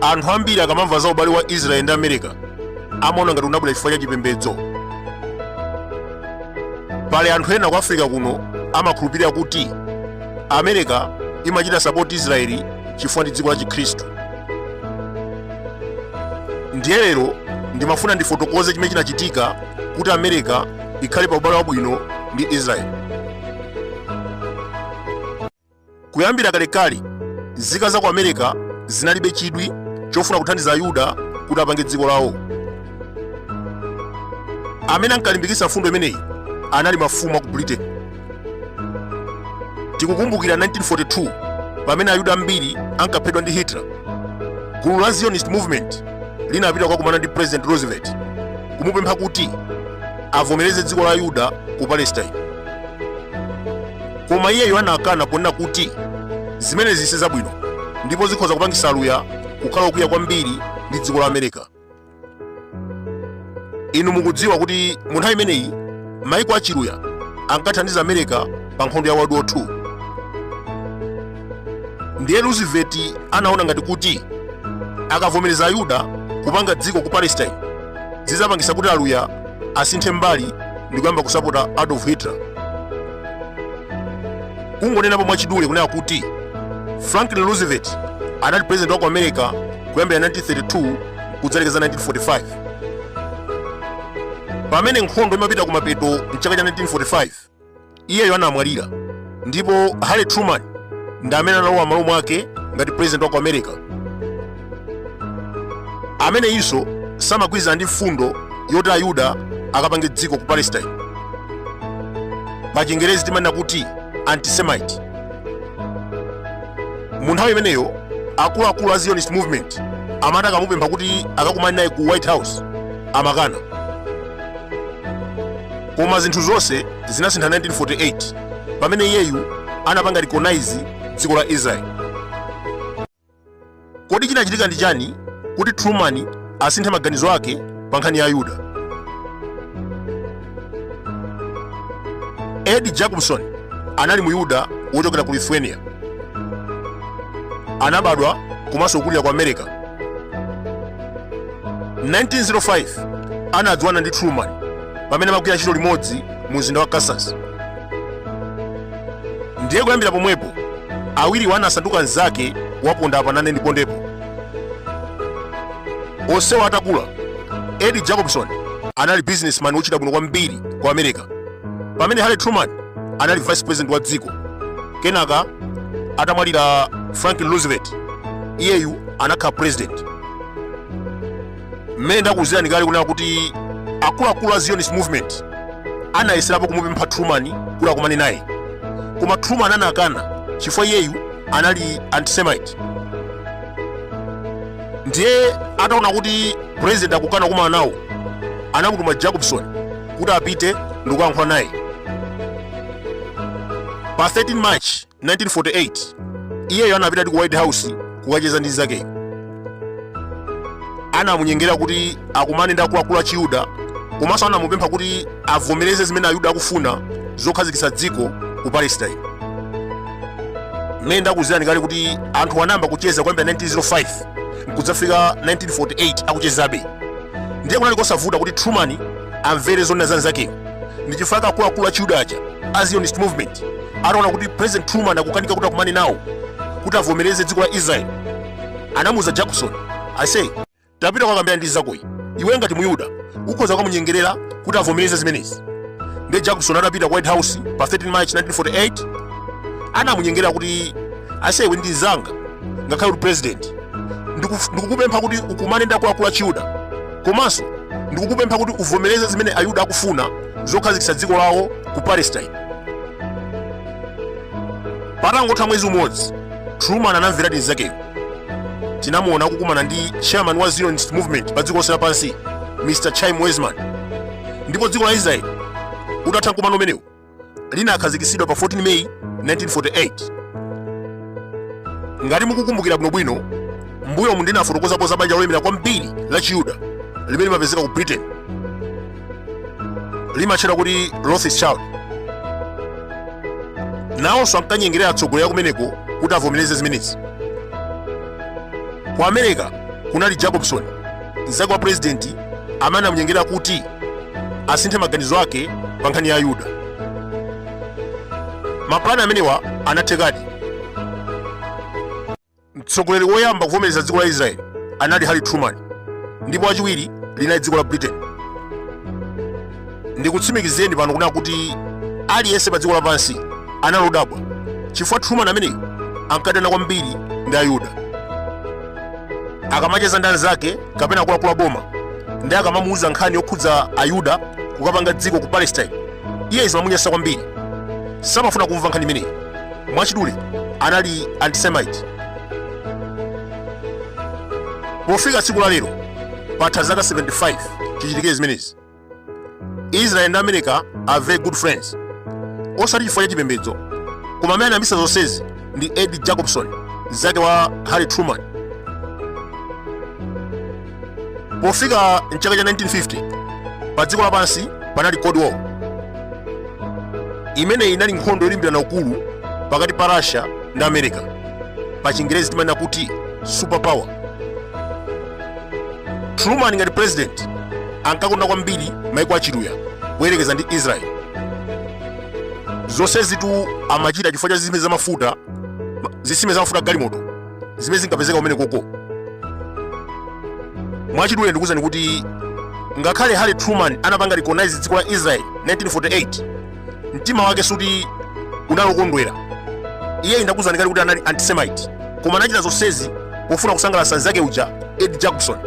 anthu ambiri akamamva za ubale wa israeli ndi america amaona ngati unabwera chifukwa cha chipembedzo pali anthu ena ku africa kuno amakhulupirira kuti america imachita sapoti israeli chifukwa ndi dziko la chikhristu ndiye lero ndimafuna ndifotokoze chimene chinachitika kuti america ikhale pa ubale wabwino ndi israeli kuyambira kalekale nzika za ku america zinalibe chidwi chofuna kuthandiza ayuda kuti apange dziko lawo amene ankalimbikitsa mfundo imeneyi anali mafumu a ku britain tikukumbukira 1942 pamene ayuda ambiri ankaphedwa ndi hitler gulu la zionist movement linapita kukakumana ndi president roosevelt kumupempha kuti avomereze dziko la ayuda ku palestine koma iyeyo anakana ponena kuti zimenezi si zabwino ndipo zikhoza kupangitsa aluya kukhala okwiya kwambiri ndi dziko la america inu mukudziwa kuti mu nthawi imeneyi maiko achiluya ankathandiza america pa nkhondo ya world war 2 ndiye roosevelt anaona ngati kuti akavomereza ayuda kupanga dziko ku palestine zidzapangisa kuti aluya asinthe mbali ndi kuyamba kusapota adolf hitler kungonenapo mwachidule kunena kuti franklin roosevelt anali president wa ku america kuyambira 1932 kudzalekeza 1945 pamene nkhondo imapita ku mapeto mchaka cha 1945 iyeyo anamwalira ndipo harry truman ndi amene analowa malo mwake ngati president wa ku america amenenso samagwirizana ndi mfundo yoti ayuda akapange dziko ku palestine pa chingerezi timanena kuti antisemite mu nthawi imeneyo akuluakulu a zionist movement amati akamupempha kuti akakumane naye ku white house amakana koma zinthu zonse zinasintha 1948 pamene iyeyu anapanga recognize dziko la israeli Kodi chinachitika ndi chani kuti Truman asinthe maganizo ake pa nkhani ya Ayuda? Eddie Jacobson anali Muyuda wochokera ku Lithuania. Anabadwa komanso kukulira ku America. 1905 anadziwana ndi Truman pamene amagwira ntchito limodzi mu mzinda wa Kansas. ndiye kuyambira pomwepo awiriwo anasanduka mnzake waponda apa nane ndipondepo onsewo atakula eddie jacobson anali businessman wochita bwino kwambiri ku america pamene harry truman anali vice president wa dziko kenaka atamwalira franklin roosevelt iyeyu anakhala president mmene ndakuuzirani kale kunena kuti akuluakulu a zionist movement anayeserapo kumupempha truman kuti akumane naye koma truman anakana chifukwa iyeyu anali antisemite ndiye ataona kuti president akukana kukumana nawo anamutuma jacobson kuti apite ndikuyankhula naye pa 13 march 1948 iyeyo anapitadi ku white house kukacheza ndi nzakeyo anamunyengera kuti akumane ndi akuluakulu a chiyuda komanso anamupempha kuti avomereze zimene ayuda akufuna zokhazikitsa dziko ku palestine mmene ndakuuzirani kale kuti anthu anayamba kucheza kuyambira 1905 nkudzafika 1948 akuchezabe ndiye kunali kosavuta kuti truman amvere zonena za nzakeyo ndi chifukwa chake akuluakulu achiyuda aja a zionist movement ataona kuti president truman akukanika kuti akumane nawo kuti avomereze dziko la israel anamuuza jacobson ase tapita ukakambirane ndi nzakoyi iwe ngati muyuda ukhoza kukamunyengerera kuti avomereze zimenezi ndiye jacobson atapita ku white house pa 13 march 1948 anamunyengerera kuti ase iwe ndi nzanga ngakhale kuti president ndikuf- ndikukupempha kuti ukumane ndi akuluakulu achiyuda komanso ndikukupempha kuti uvomereze zimene ayuda akufuna zokhazikitsa dziko lawo ku palestine patangotha mwezi umodzi truman anamvera di nzakeyo tinamuona akukumana ndi chairman wa zionist movement pa dziko lonse lapansi mr chaim weizmann ndipo dziko la israeli utatha mkumano umenewu linakhazikitsidwa pa 14 May 1948. Ngati mukukumbukira bwinobwino, mbuyomu ndinafotokozapo za banja lolemera kwambiri la Chiyuda limene limapezeka ku Britain. Limatchedwa kuti Rothschild. Nawonso ankanyengerera atsogoleri akumeneko kuti avomereze zimenezi. Ku America kunali Jacobson mnzake wa pulezidenti amene anamunyengera kuti asinthe maganizo ake pa nkhani ya ayuda mapulani amenewa anathekadi mtsogoleri woyamba kuvomereza dziko la israeli anali harry truman ndipo wachiwiri linali dziko la britain ndikutsimikizireni pano kunena kuti aliyense pa dziko lapansi anali odabwa chifukwa truman ameneyo ankadana kwambiri ndi ayuda akamacheza ndi anzake kapena akuluakulu aboma ndi akamamuuza nkhani yokhudza ayuda kukapanga dziko ku palestine iye zimamunyasa kwambiri samafuna kumva nkhani imeneyi mwachidule anali antisemite pofika tsiku la lero patha zaka 75 chichitike zimenezi israel ndi america are very good friends osati chifukwa cha chipembedzo koma amene anayambitsa zonsezi ndi ed jacobson mnzake wa harry truman pofika mchaka cha 1950 pa dziko lapansi panali cold war imeneyi inali nkhondo yolimbirana ukulu pakati pa russia ndi america pa chingerezi timanena kuti super power truman ngati president ankakonda kwambiri maiko achiluya kuyerekeza ndi israel zonsezitu amachita chifukwa cha zisime zamafuta zisime zamafuta agalimoto zimene zinkapezeka kumenekoko mwachidule ndikuwuzani kuti ngakhale harry truman anapanga recognize dziko la israel 1948 mtima wake sikuti unali wokondwera iye ndakuuzani kale kuti anali antisemite koma anachita zonsezi pofuna kusangalatsa nzake uja ed jacobson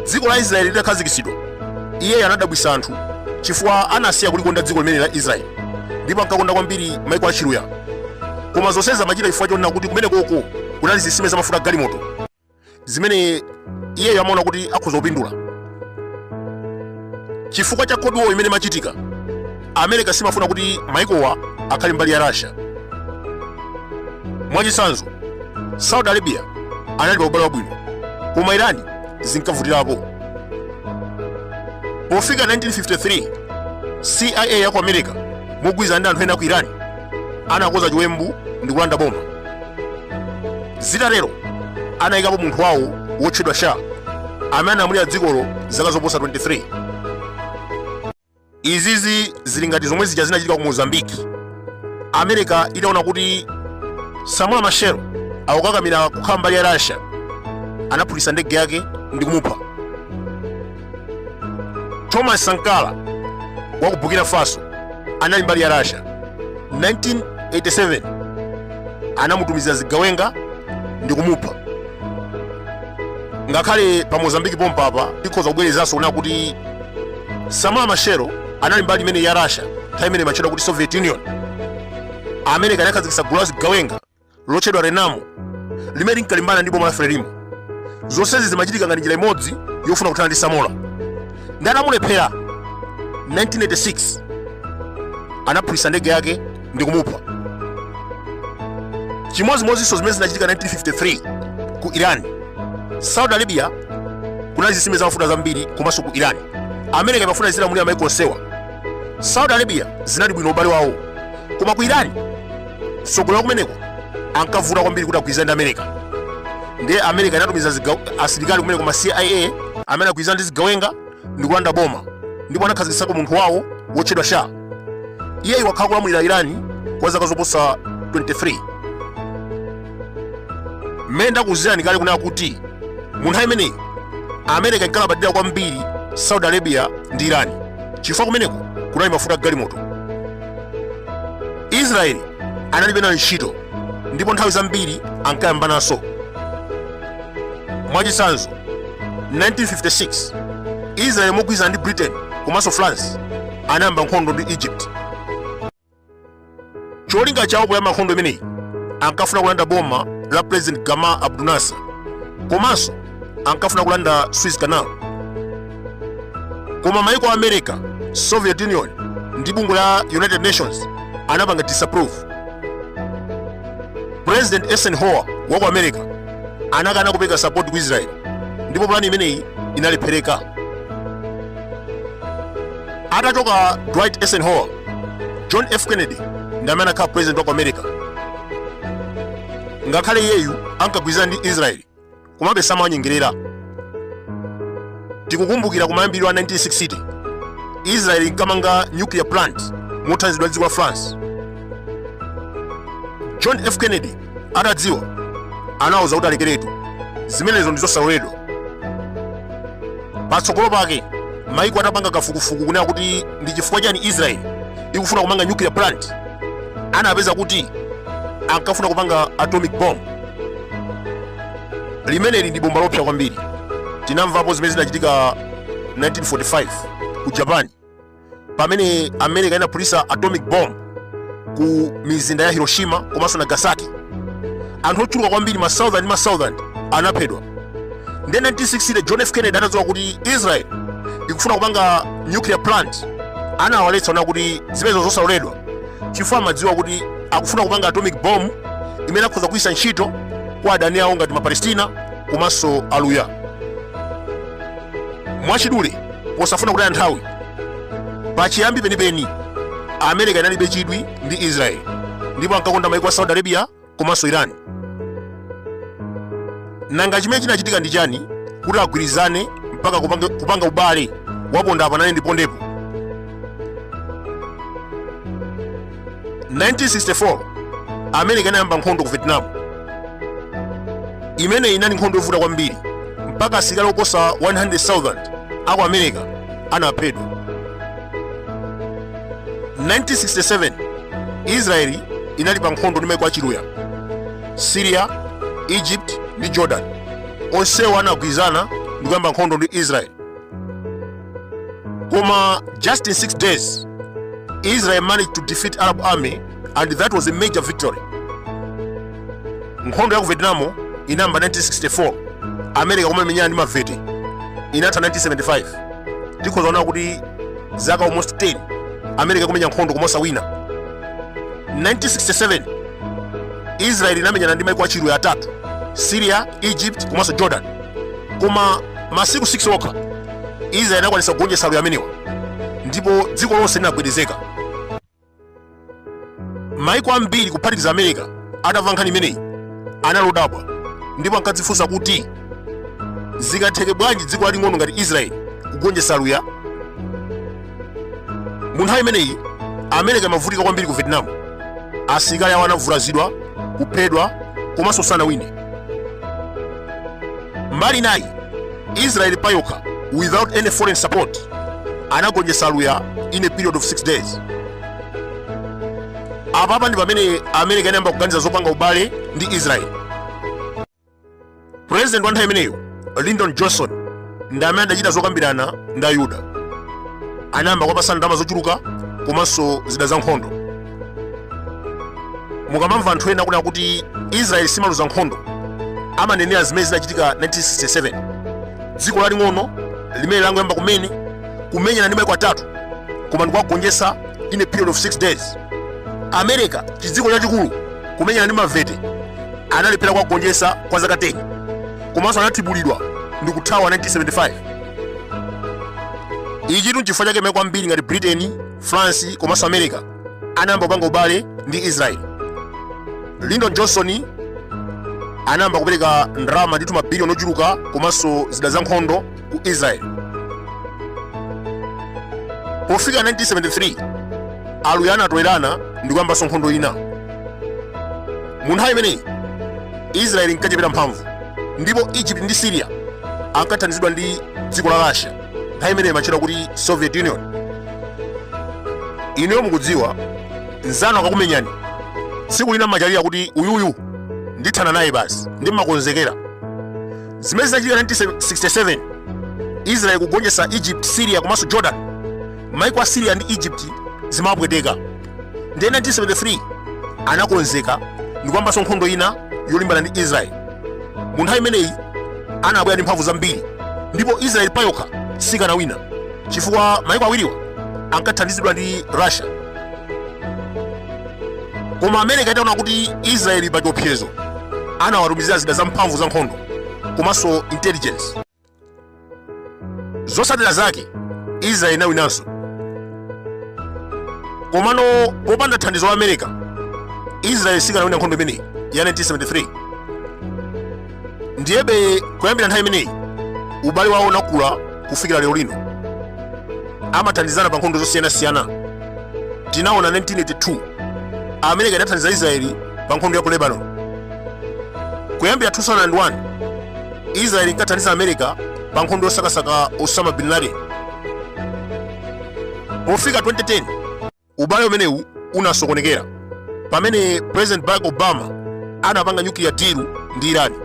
dziko la israeli litakhazikitsidwa iye anadabwitsa anthu chifukwa anasiya kulikonda dziko limeneli la israeli ndipo ankakonda kwambiri maiko achiluya koma zonsezi amachita chifukwa chonena kuti kumenekoko kunali zisime zamafuta agalimoto zimene iyeyo amaona kuti akhoza kupindula chifukwa cha cold war imene imachitika america simafuna kuti maikowa akhale mbali ya russia mwachitsanzo saudi arabia anali pa ubale wabwino koma irani zinkavutirapo pofika 1953 cia ya ku america mogwirizana ndi anthu ena ku irani anakonza chiwembu ndi kulanda boma zitatero anayikapo munthu wawo wotchedwa shah amene analamulira dzikolo zaka zoposa 23 izizi zili ngati zomwe zija zinachitika ku mozambique america itaona kuti samora machel akukakamira kukhala mbali ya russia anaphulitsa ndege yake ndi kumupha thomas sankara wa ku burkina faso anali mbali ya russia 1987 anamutumizira zigawenga ndi kumupha ngakhale pa mozambiki pompapa tikhoza kubwerezanso kunena kuti samora machel anali mbali imeneyi ya russia nthawi imene imatchedwa kuti soviet union america anakhazikitsa gulu la zigawenga lotchedwa Renamo limene linkalimbana ndi boma la Frelimo. Zonsezi zimachitika ngati njira imodzi yofuna kuthana ndi Samora. Ndiye atamulephera 1986 anaphulitsa ndege yake ndi kumupha. Chimodzimodzinso zimene zinachitika 1953 ku Iran, Saudi Arabia kunali zitsime zamafuta zambiri komanso ku Iran. America imafuna izilamulira maiko onsewa. Saudi Arabia zinali bwino ubale wawo, koma ku Iran tsogoleri kumeneko ankavuta kwambiri kuti agwirizane ndi america ndiye america inatumiza asilikali kumeneko ma cia amene anagwirizana ndi zigawenga ndi kulanda boma ndipo anakhazikitsako munthu wawo wotchedwa shah iyeyu anakhala kulamulira irani kwa zaka zoposa 23 mmene ndakuuzirani kale kunena kuti mu nthawi imeneyi america inkalabadira kwambiri saudi arabia ndi irani chifukwa kumeneko kunali mafuta a galimoto israeli analibe nayo ntchito ndipo nthawi zambiri ankayambananso mwachitsanzo 1956 israeli mogwirizana ndi britain komanso france anayamba nkhondo ndi egypt cholinga chawo poyamba nkhondo imeneyi ankafuna kulanda boma la president gamal abdel nasser komanso ankafuna kulanda suez canal koma maiko a america soviet union ndi bungwe la united nations anapanga disapprove president eisenhower wa ku america anakana kupereka support ku israel ndipo plani imeneyi inalephereka atachoka dwight eisenhower john f kennedy ndi amene anakhala president wa ku america ngakhale iyeyu ankagwirizana ndi israeli komabe samawanyengerera tikukumbukira kumayambiriro a 1960 israeli inkamanga nuclear plant mothandizidwa ndi dziko la france john f kennedy atadziwa anawauza kuti alekeretu zimenezo ndi zosaloledwa patsogolo pake maiko atapanga kafukufuku kunena kuti ndi chifukwa chani israeli ikufuna kumanga nuclear plant anapeza kuti ankafuna kupanga atomic bomb limeneli ndi bomba loopsa kwambiri tinamvapo zimene zinachitika 1945 ku japan pamene america inaphulitsa atomic bomb ku mizinda ya hiroshima komanso nagasaki anthu ochuluka kwambiri ma thousand ndi ma thousand anaphedwa nde 1960 john f kennedy atadziwa kuti israel ikufuna kupanga nuclear plant anawaletsa kunena kuti zimenezo zosaloledwa chifukwa amadziwa kuti akufuna kupanga atomic bomb imene akhoza kugwiritsa ntchito kwa adani awo ngati mapalestina komanso aluya mwachidule posafuna kutaya nthawi pachiyambi penipeni america inalibe chidwi ndi israel ndipo ankakonda maiko a saudi arabia komanso Iran. Nanga chimene chinachitika ndi chani kuti agwirizane mpaka kupanga ubale waponda apa nanenso ndipondepo? 1964 America inayamba nkhondo ku Vietnam. Imeneyi inali nkhondo yovuta kwambiri mpaka asilikali oposa 100,000 aku America anaphedwa. 1967 israeli inali pa nkhondo ndi maiko achiluya syria egypt ndi jordan onsewa anagwirizana ndi kuyamba nkhondo ndi israeli koma just in 6 days israel managed to defeat arab army and that was a major victory nkhondo ya ku vietnam inayamba 1964 america kumamenyana ndi mavete inatha 1975 tikhoza kuona kuti zaka almost 10 america kumenya nkhondo koma osawina 1967 israel inamenyana ndi maiko achiluya atatu syria egypt komanso jordan koma masiku 6 okha israel inakwanisa kugonjetsa aluya amenewa ndipo dziko lonse linagwedezeka maiko ambiri kuphatikiza america atamva nkhani imeneyi anali odabwa ndipo ankadzifunsa kuti zikatheke bwanji dziko laling'ono ngati israeli kugonjetsa aluya mu nthawi imeneyi america imavutika kwambiri ku vietnam asilikali awo anavulazidwa kuphedwa komanso sanawine mbali inayi israel payokha without any foreign support anagonjetsa aluya in a period of 6 days apapa ndi pamene america inayamba kuganiza zopanga ubale ndi israel president wa nthawi imeneyo lyndon johnson ndi amene adachita zokambirana ndi ayuda anayamba kuwapasa ndalama zochuluka komanso zida za nkhondo mukamamva anthu ena akunena kuti israeli simaluza nkhondo amanenera zimene zinachitika 1967 dziko laling'ono limene langoyamba kumene kumenyana ndi maiko atatu koma ndikuwagonjetsa in a period of 6 days america chidziko chachikulu kumenyana ndi mavete analephera kuwagonjetsa kwa zaka 10 komanso anathibulidwa ndi kuthawa 1975 ichitu n'chifukwa chake maiko ambiri ngati britain france komanso america anayamba kupanga ubale ndi israel lyndon johnson anayamba kupereka ndalama ndithu mabiliyoni ochuluka komanso zida za nkhondo ku israel pofika 1973 aluya anatolerana ndi kuyambanso nkhondo ina mu nthawi imeneyi israel inkachepera mphamvu ndipo egypt ndi syria ankathandizidwa ndi dziko la russia nthawi imeneyi imatchedwa kuti soviet union inuyo mukudziwa nzanu akakumenyani tsiku lina mumachalira kuti uyuyu ndithana naye basi ndi mumakonzekera zimene zinachitika 1967 israel kugonjetsa egypt syria komanso jordan maiko a syria ndi egypt zimapweteka ndiye 1973 anakonzeka ndikuyambanso nkhondo ina yolimbana ndi israeli mu nthawi imeneyi anabwera ndi mphamvu zambiri ndipo israeli payokha sikanawina chifukwa maiko awiriwa ankathandizidwa ndi russia koma america itaona kuti israeli ili pa chiopsezo anawatumizira zida zamphamvu za nkhondo komanso intelligence zotsatira zake israeli inawinanso komano popanda thandizo la america israeli sikanawina nkhondo imeneyi ya 1973 ndiyebe kuyambira nthawi imeneyi ubale wawo unakula kufikira lero lino amathandizana pa nkhondo zosiyanasiyana tinaona 1982 america idathandiza israeli pa nkhondo ya ku lebanon kuyambira 2001 israeli inkathandiza america pa nkhondo yosakasaka osama bin laden pofika 2010 ubale umenewu unasokonekera pamene president barack obama anapanga nuclear deal ndi irani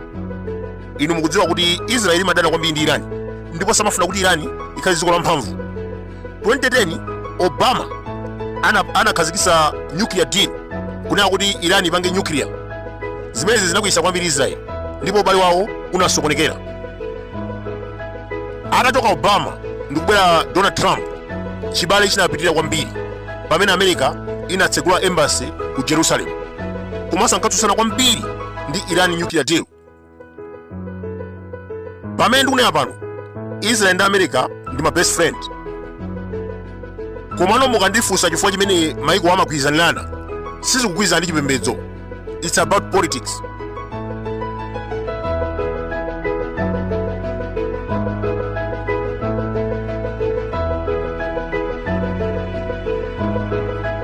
inu mukudziwa kuti israeli imadana kwambiri ndi irani ndipo samafuna kuti irani ikhale dziko lamphamvu 2010 obama anakhazikitsa nuclear deal kunena kuti iran ipange nuclear zimenezi zinakwiyitsa kwambiri israel ndipo ubale wawo unasokonekera atachoka obama ndikubwera donald trump chibale chinapitirira kwambiri pamene america inatsegula embassy ku jerusalem komanso ankatsutsana kwambiri ndi iran nuclear deal pamene ndikunena pano israel ndi america ndi ma best friend komano mukandifunsa chifukwa chimene maikowa amagwirizanirana sizikugwirizana ndi chipembedzo its about politics